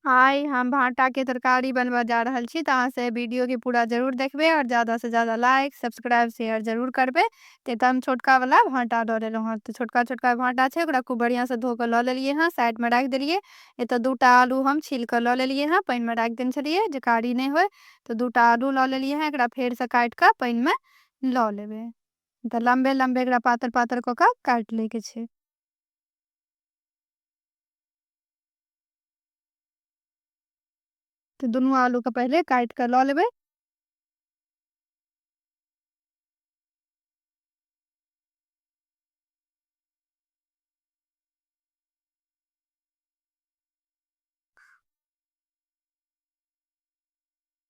हाय हम भाटा के तरकारी बनबऽ जा रहल छी तऽ अहाँ से वीडियो के पूरा जरूर देखबे और ज्यादा से ज्यादा लाइक सब्सक्राइब शेयर जरूर करबे ते तऽ हम छोटका वाला भाटा लऽ लेलहुँ हँ तऽ छोटका छोटका भाटा छै ओकरा खूब बढ़िया से धो के लऽ लेलियै हँ साइड में राख देलियै एतऽ दूटा आलू हम छील के लऽ लेलियै हँ पानि में राख देने छलियै जे कारी नहि होय तऽ दूटा आलू लऽ लेलियै हँ एकरा फेर से काट के पानि में लऽ लेबै तऽ लम्बे लम्बे एकरा पातर पातर कऽ के काट ले के छै तऽ दुनू आलूके पहिले काटि कऽ लऽ लेबै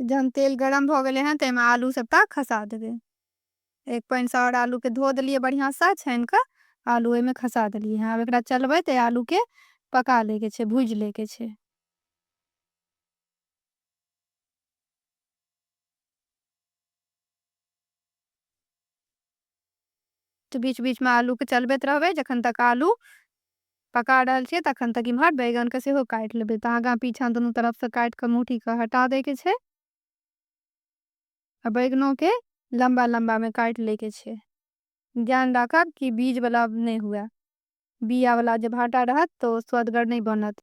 तऽ जहन तेल गरम भऽ गेलै हँ ताहिमे आलू सभटा खसा देबै एक पानिसँ आओर आलूके धो देलियै बढ़िआँसँ छानि कऽ आलू ओहिमे खसा देलियै हँ आब एकरा चलबै तऽ आलूके पका लैके छै भूजि लैके छै तऽ बीच बीच में आलू के चलबैत रहबे जखन तक आलू पका रहल छियै तखन तक इम्हर बैगन के सेहो काट लेबे तऽ आगा पीछा दोनों तरफ से काट के मुठी के हटा दे के छै आ बैगनों के लंबा लंबा में काट ले के छै ध्यान राखब कि बीज वाला नहीं हुए बिया वाला जे भाटा रहत तो स्वदगर नहीं बनत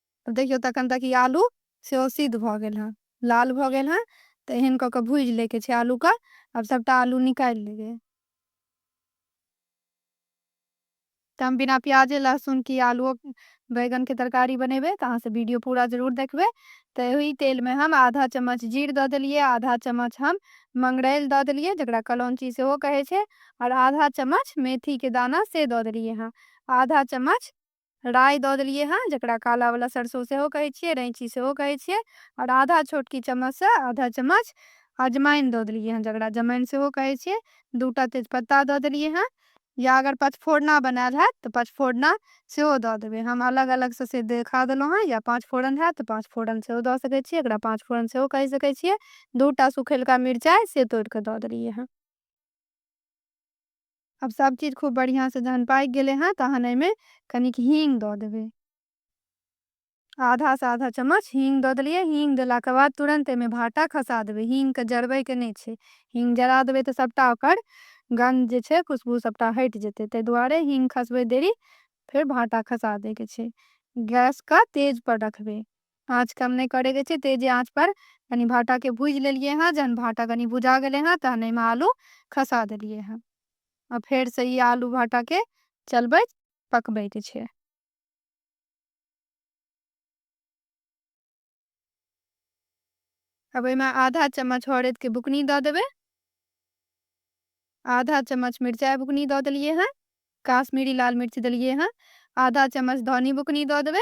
आब देखियौ तखन तक ई आलू सेहो सिद्ध भऽ गेल हेँ लाल भऽ गेल हेँ तऽ एहन कऽ कऽ भूजि लैके छै आलूके आब सभटा आलू निकालि लेबै तऽ हम बिना प्याजे लहसुन की आलूओ बैगनके तरकारी बनेबै तऽ अहाँसँ वीडियो पूरा जरूर देखबै तऽ ओहि तेलमे हम आधा चम्मच जीर दऽ देलियै आधा चम्मच हम मंगरैल दऽ देलियै जकरा कलौंची सेहो कहै छै आओर आधा चम्मच मेथीके दाना से दऽ देलियै हँ आधा चम्मच राइ दऽ देलियै हँ जकरा कालावला सरसो सेहो कहै छियै रैँची सेहो कहै छियै आओर आधा छोटकी चम्मचसँ आधा चम्मच अजमाइन दऽ देलियै हँ जकरा जमाइन सेहो कहै छियै दू टा तेजपत्ता दऽ देलियै हँ या अगर पचफोरना बनायल हैत तऽ पचफोरना सेहो दऽ देबै हम अलग अलगसँ से देखा देलहुँ हँ या पाँच फोरन हैत तऽ पाँच फोरन सेहो दऽ सकै छियै एकरा पाँच फोरन सेहो कहि सकै छियै दू टा सुखेलका मिरचाइ से तोड़ि कऽ दऽ देलियै हँ अब सब चीज खूब बढ़िया से जहन पाक गेले हैं तहन एमे कनिक हींग द देबे आधा से आधा चम्मच हींग द दिलिए हींग दिला के बाद तुरंत एमे भाटा खसा देबे हींग के जरबे के नहीं छे हींग जरा देबे तो सबटा ओकर गंध जे छे खुशबू सबटा हट जेते ते दुआरे हींग खसबे देरी फिर भाटा खसा दे के छे गैस का तेज पर रखबे आँच कम नहि करैके छै तेजे आँचपर कनि भाँटाके भुजि लेलिए हँ जहन भाँटा कनि भुजा गेलै हँ तहन एहिमे आलू खसा देलिए हँ आओर फेरसँ ई आलू भाँटाके चलबैत पकबैके छै अब एहिमे आधा चम्मच हरदिके बुकनी दऽ देबै आधा चम्मच मिरचाइ बुकनी दऽ देलिए हँ काश्मीरी लाल मिर्च देलिए हँ आधा चम्मच धनी बुकनी दऽ देबै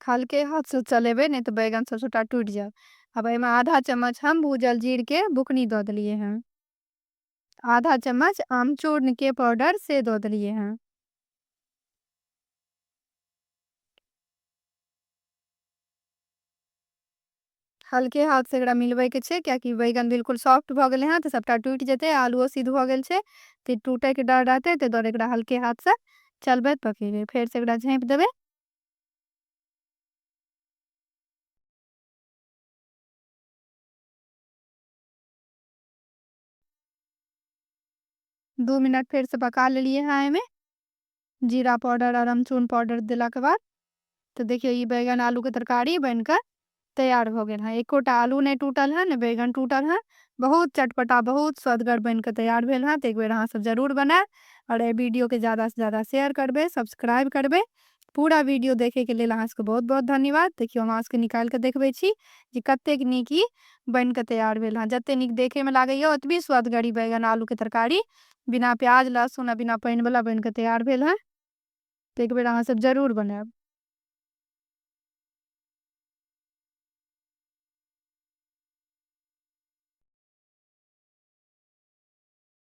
हल्के हाथसँ चलेबै नहि तऽ बैगन सब सबटा टूटि जायत अब एहिमे आधा चम्मच हम भूजल जीरके बुकनी दऽ देलियै हँ आधा चम्मच आमचूर्णके पाउडर से दऽ देलियै हँ हल्के हाथ से एकरा मिलबै के छै किया कि बैगन बिल्कुल सॉफ्ट भ गेले हैं तऽ सबटा टूटि जेतै आलूओ सिद्ध भ गेल छै तऽ टूटे के डर रहतै ताहि दुआरे एकरा हल्के हाथ से चलबैत पकेबै फेर से एकरा झाँपि देबै दू मिनट फेर से पका लेलिए हैं एहिमे जीरा पाउडर और अमचून पाउडर दिला के बाद तो देखियो ये बैगन आलू के तरकारी बनकर तैयार हो गए हैं एकोटा आलू नहीं टूटल है न बैगन टूटल है बहुत चटपटा बहुत स्वदगर बनकर तैयार भेल है तो एक बेर अहाँ सब जरूर बनाए और ये वीडियो के ज़्यादा से ज़्यादा शेयर करबे सब्सक्राइब करबे पूरा वीडियो देखे के लिए अहाँ सबके बहुत बहुत धन्यवाद देखियो हम अहाँ सबके निकाल के देखबे छी जे कतेक नीक ई बन के तैयार भेल हँ जते नीक देखे में लागैए ओतबी स्वदगरी बैगन आलू के तरकारी बिना प्याज लहसुन आ बिना पानि वाला बनि कऽ तैयार भेल हँ तऽ एक बेर अहाँ सब जरूर बनायब